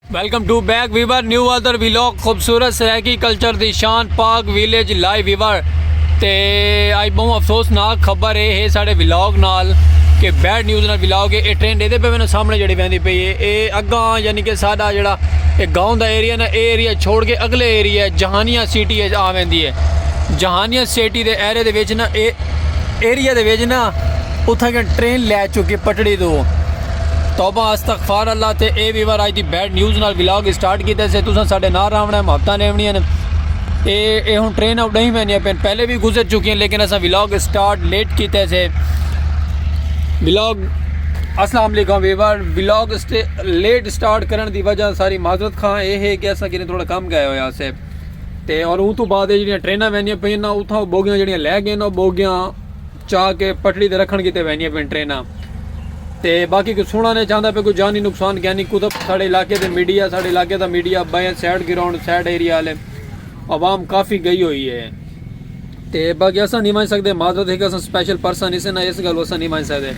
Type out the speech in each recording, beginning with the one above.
Welcome to back viewer new other vlog خوبصورت Saraiki culture دی شان پاک ویلیج لائی ویور تے آئی بہوں افسوسناک خبر ہے ہے ساڑے ویلاگ نال کہ بیڈ نیوز نال ویلاگ ہے اے ٹرین دے دے پہ میں سامنے جڑی بیندی پہ یہ اے اگاں یعنی کہ ساڑا جڑا اے گاؤں دا ایریا نا اے ایریا چھوڑ کے اگلے ایریا جہانیہ سیٹی ہے آ بیندی ہے جہانیہ سیٹی دے ایرے دے ویچنا اے ایریا دے ویچنا اتھا کہ ٹرین لے چکے پٹڑی دو توبہ استغفار اللہ تے اے ویور آج دی بیڈ نیوز نال ولاگ اسٹارٹ کیتے سے تساں ساڈے نہ راونا ہے محبتاں نیونیاں اے اے ہن ٹرین او ڈہی میں نہیں پین پہلے بھی گزر چکی ہیں لیکن اساں ولاگ اسٹارٹ لیٹ کیتے سے ولاگ السلام علیکم ویور ولاگ لیٹ اسٹارٹ کرن دی وجہ ساری معذرت خواہ اے ہے کہ اساں کنے تھوڑا کم گئے ہویا سے تے اور اون تو بعد جڑیاں ٹریناں ویندیاں پئیاں نا اتھاں بوگیاں جڑیاں لے گئے نا بوگیاں چا کے پٹڑی تے رکھن کیتے ویندیاں پین ٹریناں تے باقی کوئی سنڑا نے چاہندا پے کوئی جانی نقصان گیانی کتا ساڑے علاقے دے میڈیا ساڑے علاقے دا میڈیا بائیں سائیڈ گراؤنڈ سائیڈ ایریا والے عوام کافی گئی ہوئی ہے تے باقی اساں نہیں ونج سکدے معذرت ہے کہ اساں سپیشل پرسن اسے نہ اس گل اساں نہیں ونج سکدے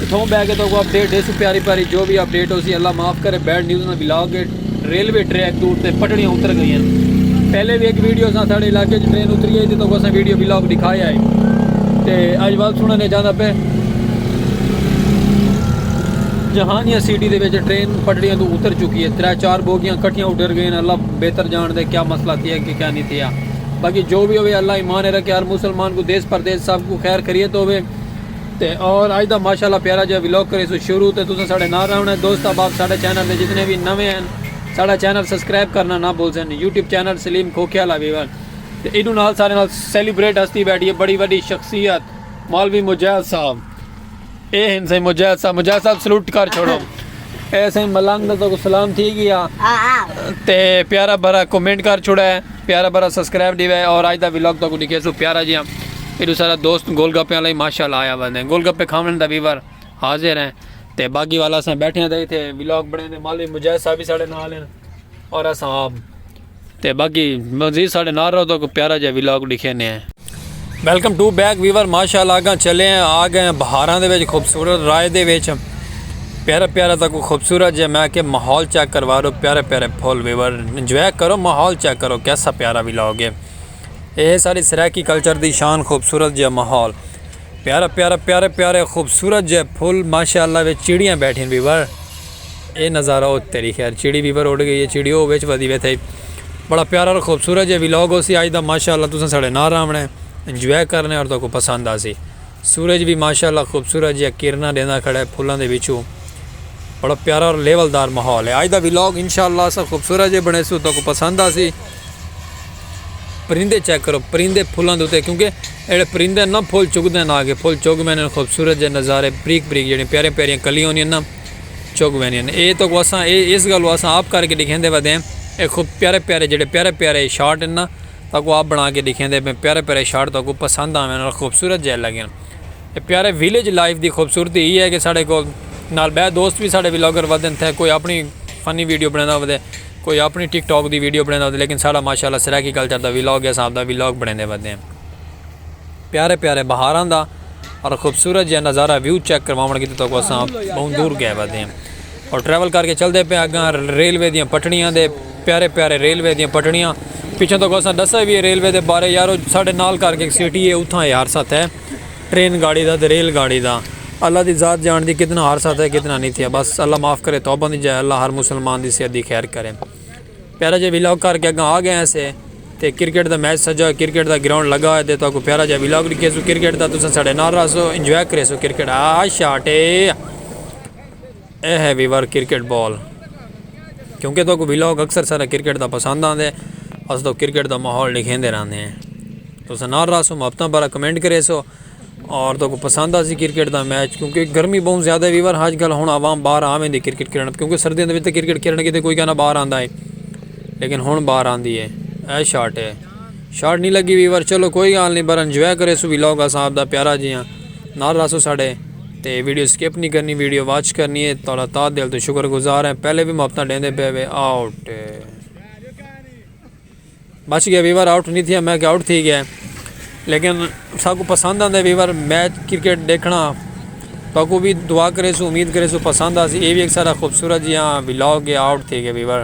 اتھاؤں بہ کے تہاکوں اپڈیٹ ڈیسوں پیاری پیاری جو بھی اپڈیٹ ہوسی اللہ معاف کرے بیڈ نیوز نہ بلاگ ہے ریلوے ٹریک دور تے پٹڑیاں اتر گئی ہیں پہلے بھی ایک ویڈیو سا ساڑے علاقے چ ٹرین اتری ہے تے تہاکوں اساں ویڈیو بلاگ دکھایا ہے تے اج وقت سنن نے جانا پہ جہانیہ سٹی دے وچ ٹرین پٹڑیاں تو اتر چکی ہے ترے چار بوگیاں کٹھیاں اڈر گئے ہیں اللہ بہتر جان دے کیا مسئلہ تھی ہے کہ کیا نہیں تھی ہے باقی جو بھی ہوئے اللہ ایمان رکھے ہر مسلمان کو دیس پردیس سب کو خیر خیریت ہوئے تے اور اج دا ماشاءاللہ پیارا جیہا ولاگ کریسوں شروع تے تساں ساڈے نال رہنڑاں ہے دوست احباب ساڈے چینل تے جتنے وی نویں ہن ساڈا چینل سبسکرائب کرنا نہ بھلسن یوٹیوب چینل سلیم کھوکھے آلا ویور تے ایڈو نال سارے نال سیلیبریٹ ہستی بیٹھی ہے بڑی وڈی شخصیت مولوی مجاہد صاحب اے ہن سائیں مجاہد صاحب مجاہد صاحب سلوٹ کر چھوڑو اے سائیں ملنگ دا تو سلام تھی گیا تے پیارا بھرا کمنٹ کر چھوڑا ہے پیارا برا سبسکرائب دی وے اور آج دا ویلاگ تو کو دکھے سو پیارا جی ہم ایڈو سارا دوست گول گپے والا ہی ماشاءاللہ آیا ہوا نے گول گپے کھاون دا ویور حاضر ہیں تے باقی والا اساں بیٹھے ہیں تے ویلاگ بنے دے مالی مجاہد صاحب بھی ساڑے نال ہیں اور اساں آپ تے باقی مزید ساڑے نال رہو تو کو پیارا جی ویلاگ دکھے نے ہیں ویلکم ٹو بیک ویور ماشاء اللہ آگاں چلے ہیں آ گئے ہیں بہاراں دے وچ خوبصورت رائے دے وچ پیارا پیارا تک خوبصورت جے میں کہ ماحول چیک کروا رہو پیارے پیارے پھول ویور انجوائے کرو ماحول چیک کرو کیسا پیارا وی لاؤ گے اے ساری سرائیکی کلچر دی شان خوبصورت جے ماحول پیارا پیارا پیارے پیارے خوبصورت جے پھول ماشاء اللہ وچ چڑیاں بیٹھیں ویور اے نظارہ او تیری خیر چڑی وی پر اڈ گئی اے چڑی او وچ ودی ویتھئی بڑا پیارا اور خوبصورت جے ویلاگ ہوسی آج دا ماشاءاللہ تساں ساڈے نال راونڑے انجوائے کرنڑے اور تہاکوں پسند آسی سورج وی ماشاءاللہ خوبصورت جیہاں کرناں ڈیندا کھڑے پھلاں دے وچوں بڑا پیارا اور لیول دار ماحول اے آج دا ویلاگ انشاءاللہ اساں خوبصورت جے بنڑیسوں تہاکوں پسند آسی۔ پرندے چیک کرو پرندے پھلاں دے اتے کیونکہ اڑے پرندے نہ پھل چگدے نہ کہ پھل چگ ویندے خوبصورت جے نظارے بریک بریک جڑے پیارے پیارے کلیاں ہوندیاں نہ چگ ویندیاں اے تو واساں اے اس گل واساں آپ کر کے دکھیندے ودے ہیں اے خوب پیارے پیارے جڑے پیارے پیارے شارٹ ہیں نہ تاں کو آپ بنا کے دکھیندے ہیں پیارے پیارے شارٹ تاں کو پسند آویں نال خوبصورت جے لگے ہیں پیارے ویلیج لائف دی خوبصورتی ہی ہے کہ ساڑے کو نال بے دوست بھی ساڑے ویلاگر ودن تھے کوئی اپنی فنی ویڈیو بنانا ودے۔ کوئی آپݨی ٹک ٹاک دی ویڈیو بݨیندا ہوندے لیکن ساݙا ماشاء اللہ سرائیکی کلچر دا ویلاگ یا اساں آپݨا ویلاگ بݨیندے ودے ہیں پیارے پیارے بہاراں دا اور خوبصورت جیہا نظارہ ویو چیک کرواوݨ کیتے تہاکوں اساں ٻہوں دور ڳئے ودے ہیں اور ٹریول کر کے چلدے پئے اڳاں ریلوے دیاں پٹڑیاں دے پیارے پیارے ریلوے دیاں پٹڑیاں پچھوں تہاکوں اساں ݙسئے وی ہے ریلوے دے بارے یارو ساݙے نال کر کے سٹی ہے اتھاں ہے ہر ساتھ ہے ٹرین گاڑی دا تے ریل گاڑی دا۔ اللہ دی ذات جانڑدی کتنا ہر سا تھیا کتنا نی تھیا بس اللہ معاف کرے توبہ دی جائے اللہ ہر مسلمان دی صحت دی خیر کرے پیارا جا ویلاگ کر کے اگاں آ گئے ہیں سے تے کرکٹ دا میچ سجا ہوئے کرکٹ دا گراؤنڈ لگا ہوئے تے تو کو پیارا جا ویلاگ ڈکھے سو کرکٹ دا تساں ساڑے نال رہسو انجوائے کرے سو کرکٹ آ شاٹے۔ اے ہے ویور کرکٹ بال کیونکہ تہاکوں ولاگ اکثر سارا کرکٹ دا پسند آندے اس توں کرکٹ دا ماحول ڈکھیندے رہندے ہیں تساں نال راسو محبتاں بارا کمنٹ کرے سو اور تہاکوں پسند آسی کرکٹ دا میچ کیونکہ گرمی بہت زیادہ ہے ویور آج کل ہن عوام باہر آویں دی کرکٹ کھیڑن کیونکہ سردیاں دے وچ تے کرکٹ کھیڑن کیتے کوئی کہنا باہر آندا ہے لیکن ہن باہر آندی ہے اے شاٹ ہے شاٹ نہیں لگی ویور چلو کوئی حال نہیں بر انجوائے کرے سو ولاگ صاحب دا پیارا جیاں نال راسو ساڑے تے ویڈیو سکپ نی کرنی ویڈیو واچ کرنی اے تہاڈا تہہ دل توں شکر گزار ہیں پہلے وی محبتاں ڈیندے پئے وے آؤٹ بچ گیا ویور آؤٹ نہیں تھیا میں کہ آؤٹ تھی گیا لیکن ساکو پسند آندے ویور میچ کرکٹ دیکھنا تاکو بھی دعا کرے سو امید کرے سو پسند آسی اے بھی ایک سارا خوبصورت جی ہاں ویلاگ گیا آؤٹ تھی گیا ویور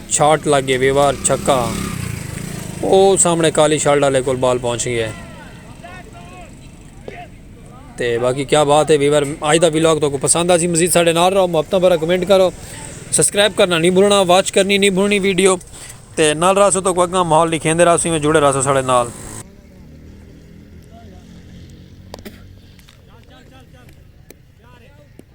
شاٹ لگ گئے ویوار چھکا او سامنے کالی شرٹ والے کول بال پہنچ گیا ہے تے باقی کیا بات ہے ویور آج دا ویلاگ تو کو پسند آسی مزید ساڑھے نال رہو محبتاں بھرا کمنٹ کرو سبسکرائب کرنا نہیں بھولنا واچ کرنی نہیں بھولنی ویڈیو تے نال راسو تو کو اگاں ماحول لکھیں دے راسو میں جڑے راسو ساڑھے نال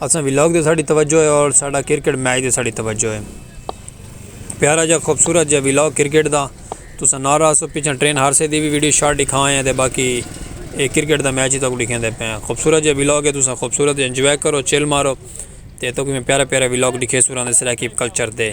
اساں ولاگ تے ساڈی توجہ ہے اور ساڈا کرکٹ میچ تے ساڈی توجہ ہے پیارا جا خوبصورت جا ولاگ کرکٹ دا تساں نہ رہا سو پیچھے ٹرین ہارسے دی بھی ویڈیو شارٹ دکھا ہیں تے باقی اے کرکٹ دا میچ ہی تک دکھیں دے پے خوبصورت جا ولاگ ہے تساں خوبصورت انجوائے کرو چل مارو تے تک میں پیارا پیارا ولاگ دکھے سوراں دے سرائیکی کلچر دے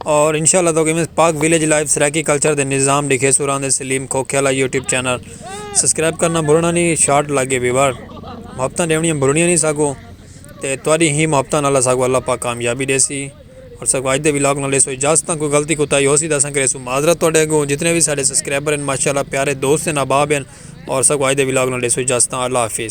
اور انشاء اللہ تو کہ Pak village life Saraiki culture دے نظام لکھے سوراں دے سلیم کھوکھے والا یوٹیوب چینل سبسکرائب کرنا بھولنا نہیں شارٹ لگے ویور محبتاں ڈیونیاں بھولنیاں نہیں ساکو تے تواڈی ہی محبتاں نال ساکو اللہ پاک کامیابی دے سی اور ساکو اج دے ولاگ نال سو اجازت کو غلطی کوتاہی ہو سی دساں کرے سو معذرت تواڈے کو جتنے بھی سارے سبسکرائبر ہیں ماشاءاللہ پیارے دوست ہیں احباب ہیں اور ساکو اج دے ولاگ نال سو اجازت اللہ حافظ